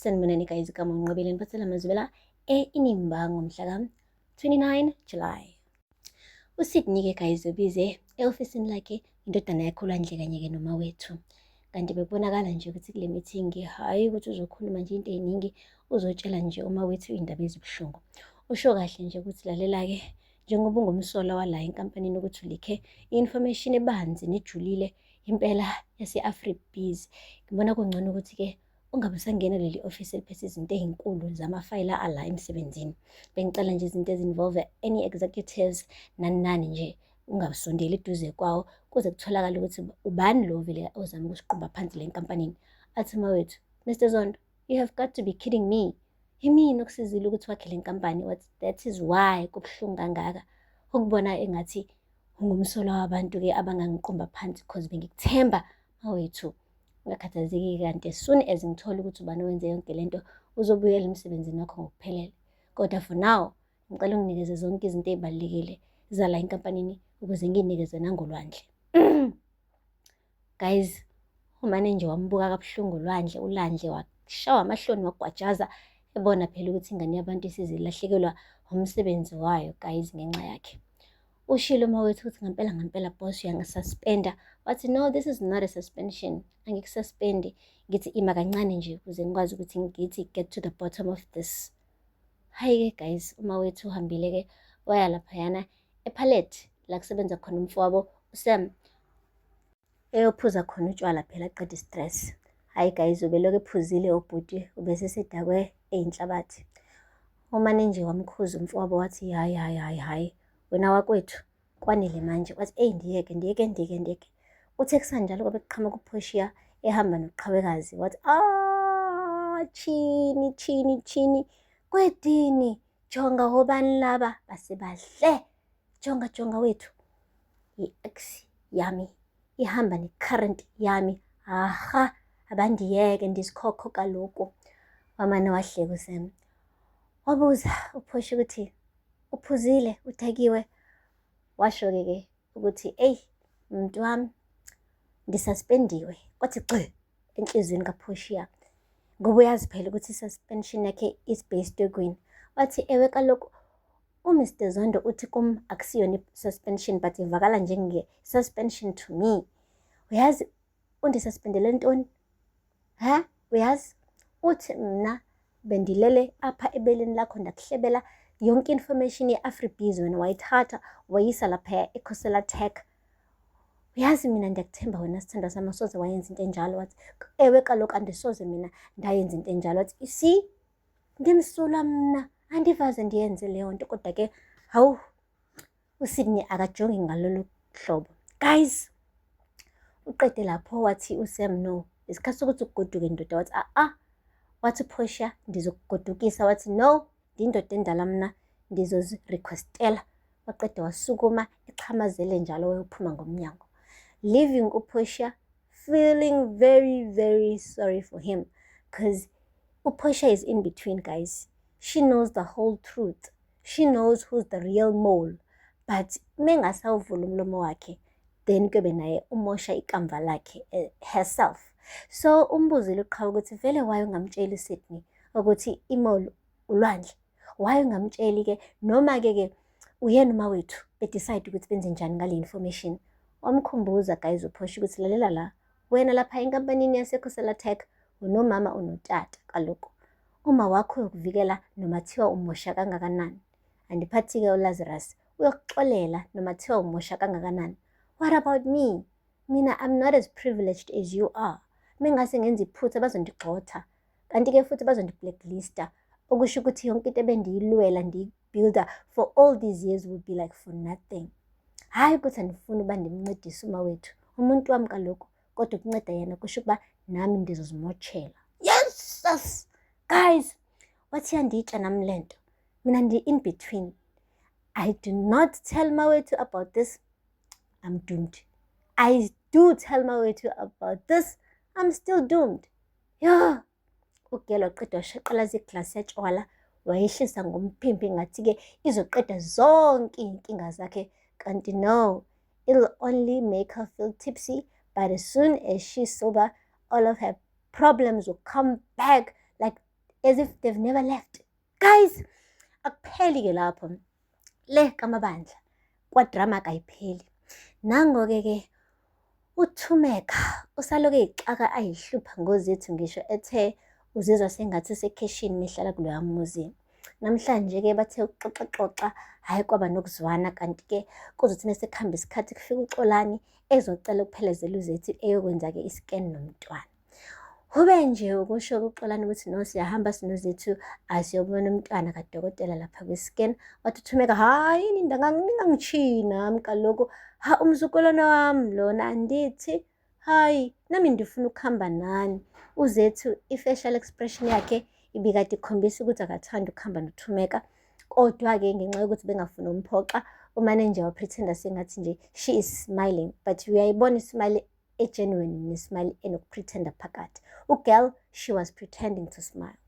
Sanibonani guys ka Monqobile ngiphethela amazwela eNimba ngomhla ka 29 July. USydney ke guys ubize eofisini lakhe indodana yakhe uLwandle kanye ke noma wethu. Kanti bekubonakala nje ukuthi kule meeting hayi ukuthi uzokhuluma nje into eziningi uzotshela nje uma wethu indaba ezibuhlungu. Usho kahle nje ukuthi lalela ke njengoba ungumsola wala enkampanini ukuthi ulikhe i-information ebanzi nejulile impela yase-afribees ngibona kungcono ukuthi-ke Ungabe usangena kuleli ofisi eliphethe izinto ezinkulu zamafayela ala emsebenzini. Bengicela nje izinto ezinvolve any executives nani nani nje ungabusondeli eduze kwawo kuze kutholakale ukuthi ubani lo vele ozama ukusiqumba phansi le nkampanini. Athi mawethu, Mr Zondo, you have got to be kidding me. Yimina okusizile ukuthi wakhe le nkampani, what that is why kubuhlungu kangaka ukubona engathi ungumsolwa wabantu-ke abangangiqumba phansi cause bengikuthemba awethu ungakhathazeki kanti as soon as ngithola ukuthi ubani wenze yonke lento uzobuyela emsebenzini wakho ngokuphelele kodwa for now ngicela unginikeze zonke izinto ezibalekile zala enkampanini ukuze nginikeze nangolwandle guys umane nje wambuka kabuhlungu olwandle ulandle washawa amahloni wagwajaza ebona phela ukuthi ingane yabantu isizilahlekelwa umsebenzi wayo guys ngenxa yakhe ushilo uma wethu ukuthi ngempela ngempela boss uyangisuspenda wathi no this is not a suspension angikusaspendi ngithi ima kancane nje ukuze ngikwazi ukuthi ngithi get to the bottom of this hhayi-ke guys uma wethu uhambile-ke waya laphayana ephalet la kusebenza khona umfowabo usam eyophuza khona utshwala phela qeda istress hhayi guys ubelokhu ephuzile ubhuti ubesesedakwe eyinhlabathi umane nje wamkhuza umfowabo wathi hhayi hhayi hhayi hhayi wena wakwethu kwanele manje wathi eyi ndiyeke ndiyeke ndiyeke ndiyeke uthe kusanjalo kwabe kuqhamuka uphoshiya ehamba noqhawekazi wathi ah chini chini chini kwedini jonga hobani laba base bahle jonga jonga wethu i-ex yami ihamba ne-current yami aha abandiyeke ndizikhokho kaloku wamane wahleka usem wabuza uphosha ukuthi uphuzile udakiwe washo-ke ke ukuthi eyi mntu wami ndisaspendiwe kwathi gxi enhliziyweni kaphoshiya ngoba uyazi phela ukuthi i-suspension yakhe is based ekweni wathi ewe kaloku UMr Zondo uthi kum akusiyona i-suspension but ivakala njenge-suspension to me. Uyazi undisuspendele ntoni? Ha? Uyazi? Uthi mna bendilele apha ebeleni lakho ndakuhlebela yonke information ye-afribiz wena wayithatha wayisa laphaya ekhosela tech uyazi mina ndiyakuthemba wena sithandwa sami asoze wayenza into enjalo wathi ewe kaloku andisoze mina ndayenza into enjalo wathi you see Ndimsulwa mna, andivaze ndiyenze leyo nto kodwa ke hawu uSydney akajongi ngalolu hlobo. Guys, uqede lapho wathi uSam no, isikhathi sokuthi ugoduke ndoda wathi a-a. Ah, ah. Wathi uPortia ndizokugodukisa wathi no, ndindoda endala mna ndizozirequestela. Waqeda wasukuma exhamazele njalo wayophuma ngomnyango. Leaving uPortia feeling very, very sorry for him because Uposha is in between, guys. She knows the whole truth. She knows who's the real mole. But mengasawuvula umlomo wakhe then kuyobe naye umosha ikamva lakhe eh, herself. So umbuzile uqhawe ukuthi vele waye ungamtsheli uSydney ukuthi imole ulwandle. why ungamtsheli ke noma ke ke uyena uma wethu bedecide ukuthi benze njani ngale information wamkhumbuza guys uphosha ukuthi lalela la wena lapha enkampanini yasekhosela tech unomama unotata kaloku uma wakho yokuvikela noma thiwa umosha kangakanani andiphathi-ke ulazarus uyokuxolela noma thiwa umosha kangakanani what about me mina i'm not as privileged as you are mengase ngenza iphutha bazondigxotha kanti-ke futhi bazondi-blacklista okusho ukuthi yonke into ebendiyilwela ndiyibuilda for all these years will be like for nothing hhayi ukuthi andifuni uba ndimncedise uma wethu umuntu wami kaloku kodwa ukunceda yena kusho ukuba nami ndizozimotshela yesus guys wathi yanditsha nami le nto mina ndi-in between i do not tell mawethu about this i'm doomed i do tell mawethu about this i'm still doomed Yho! UGel waqeda washaqalaza iglasi yatshwala wayehlisa ngomphimbi ngathi-ke izoqeda zonke iy'nkinga zakhe kanti no it'll only make her feel tipsy but as soon as she's sober all of her problems will come back like as if they've never left guys akupheli ke lapho le kamabandla kwadrama kayipheli nangoke ke uthumeka usaloke ixaka ayihlupha ngozethu ngisho ethe uzizwa sengathi usekheshini mehlala kuloya muzi namhlanje ke bathe uxoxaxoxa hhayi kwaba nokuzwana kanti ke kuzothi mesekuhamba isikhathi kufika uxolani ezocela ukuphelezela uzethi eyokwenza-ke iscan nomntwana Ube nje ukusho kuXolani ukuthi no siyahamba sinozethu asiyobona umntwana kadokotela lapha kwi-scan wathuthumeka hhayi yini ndangangingangichiyi nami kaloku ha umzukulwana wami lona andithi hhayi nami ndifuna ukuhamba nani uzethu i-facial expression yakhe ibikade ikhombisa ukuthi akathandi ukuhamba nothumeka kodwa-ke ngenxa yokuthi bengafuni umphoxa umanager waphretenda sengathi nje she is smiling but uyayibona ismile egenuine nesmile enokupretenda phakathi ugirl she was pretending to smile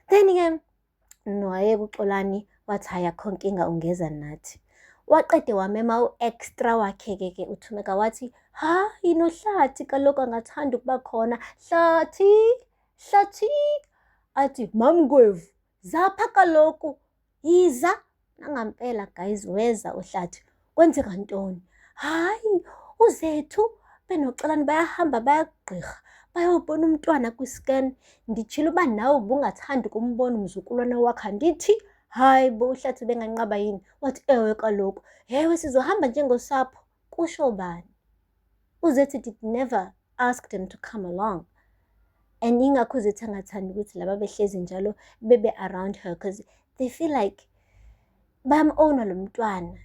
then ke noye kuxolani wathi hayi akho nkinga ungeza nathi waqede wamema u-extra wakhe-ke ke uthumeka wathi ha yinohlathi kaloku angathanda ukuba khona hlathi hlathi athi mamngwevu zapha kaloku yiza nangampela guys weza uhlathi kwenzeka ntoni hayi uzethu benoxolani bayahamba bayagqirha bayobona umntwana kwiscan nditshile uba nawe ubungathandi kumbona umzukulwana wakho andithi hayi bo uhlathi benganqaba yini wathi ewe kaloku hewe sizohamba njengosapho kusho bani uzethi did never asked him to come along and ingakho uzethi angathandi ukuthi laba behlezi njalo bebe around her because they feel like bam-owna lo mntwana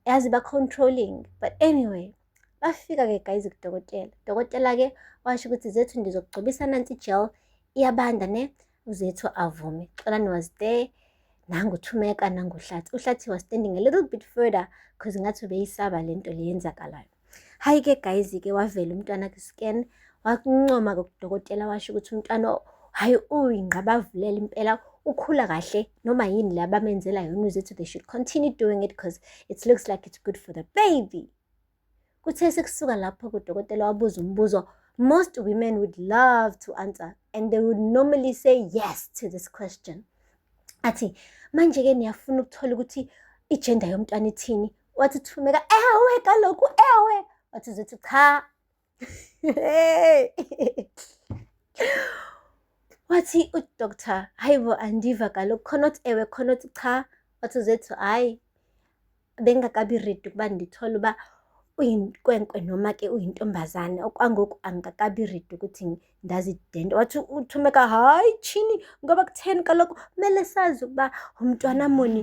yazi ba-controlling but anyway bafika-ke guys kudokotela dokotela-ke washo ukuthi zethu ndizokugcobisa nansi ijel iyabanda ne uzethu avume xolani was there nanguthumeka nanguhlathi uhlathi was standing a little bit further because ngathi ubeyisaba le nto leyenzakalayo hayi ke guys ke wavela umntwana kwi-scan wakuncoma kodokotela washo ukuthi umntwana hayi uyingqabavulele impela ukhula kahle noma yini le abamenzela yona uzethu they should continue doing it because it looks like it's good for the baby Kuthe sekusuka lapho kudokotela wabuza umbuzo most women would love to answer and they would normally say yes to this question. Athi manje-ke niyafuna ukuthola ukuthi ijenda yomntwana ithini wathi thumeka ewe kaloku ewe wathi zithi cha wathi udoctor hayi bo andiva kaloku khona othi ewe khona othi cha wathi uzethu hayi bengakabi redi ukuba ndithole uba uyinkwenkwe noma ke uyintombazane okwangoku angikakabi redi ukuthi ndazidente wathi uthumeka hayi tshini ngoba kutheni kaloku kumele sazi ukuba umntwana muni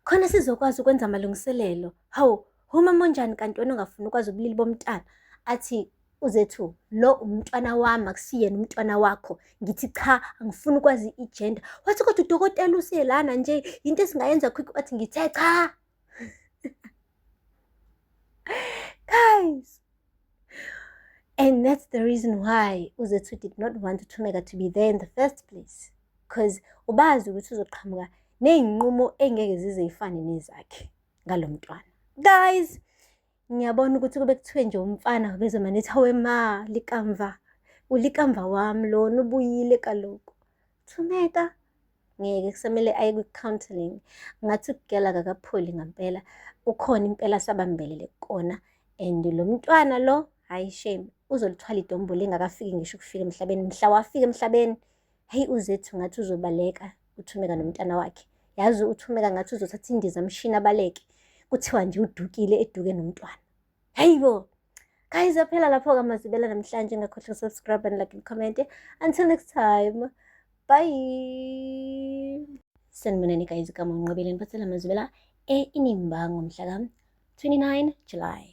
khona sizokwazi ukwenza amalungiselelo hawu Umama onjani kanti wena ongafuni ukwazi ubulili bomntana athi uzethu lo umntwana wami akusiyena umntwana wakho ngithi cha angifuni ukwazi igender wathi kodwa udokotela usiyelana nje yinto esingayenza quick wathi ngithe cha guys and that's the reason why uzethu did not want uthumeka to be there in the first place because ubazi ukuthi uzoqhamuka ney'nqumo engeke zize yifane nezakhe ngalo mntwana guys ngiyabona ukuthi kube kuthiwe nje umfana wabezomane ethi hawe ma likamva ulikamva wami lona ubuyile kaloku thumeka ngeke kusamele aye kwi-counseling ngathi ukugela kakapholi ngampela ukhona impela sabambelele kona and lo mntwana lo hhayi shame uzolithwala idombolo engakafiki ngisho ukufika emhlabeni mhla wafika emhlabeni Heyi uzethu ngathi uzobaleka uthumeka nomntana wakhe yazi uthumeka ngathi uzothatha indiza mshini abaleke kuthiwa nje udukile eduke nomntwana hayi bo guys aphela lapho kamazibela namhlanje ngakhohlwa subscribe and like and comment until next time bye sanibonani guys kamonqobile niphathela mazibela e-inimbango mhla ka-29 july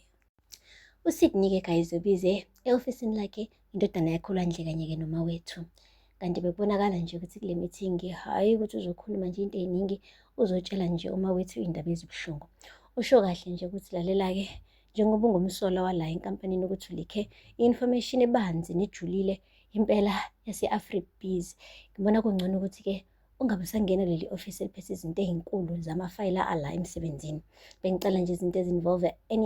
uSidney-ke guys ubize e-ofisini lakhe indodana yakhe olwandle kanye-ke noma wethu kanti bekubonakala nje ukuthi kule meeting hhayi ukuthi uzokhuluma nje into ey'ningi uzotshela nje uma wethu iy'ndaba ezibuhlungu usho kahle nje ukuthi lalela-ke njengoba ungumsola wala enkampanini ukuthi ulikhe i-information ebanzi nejulile impela yase-afribees ngibona kungcono ukuthi-ke ungabe usangena kuleli ofisi eliphethe izinto ey'nkulu zamafayela ala emsebenzini bengicela nje izinto ezinvolve any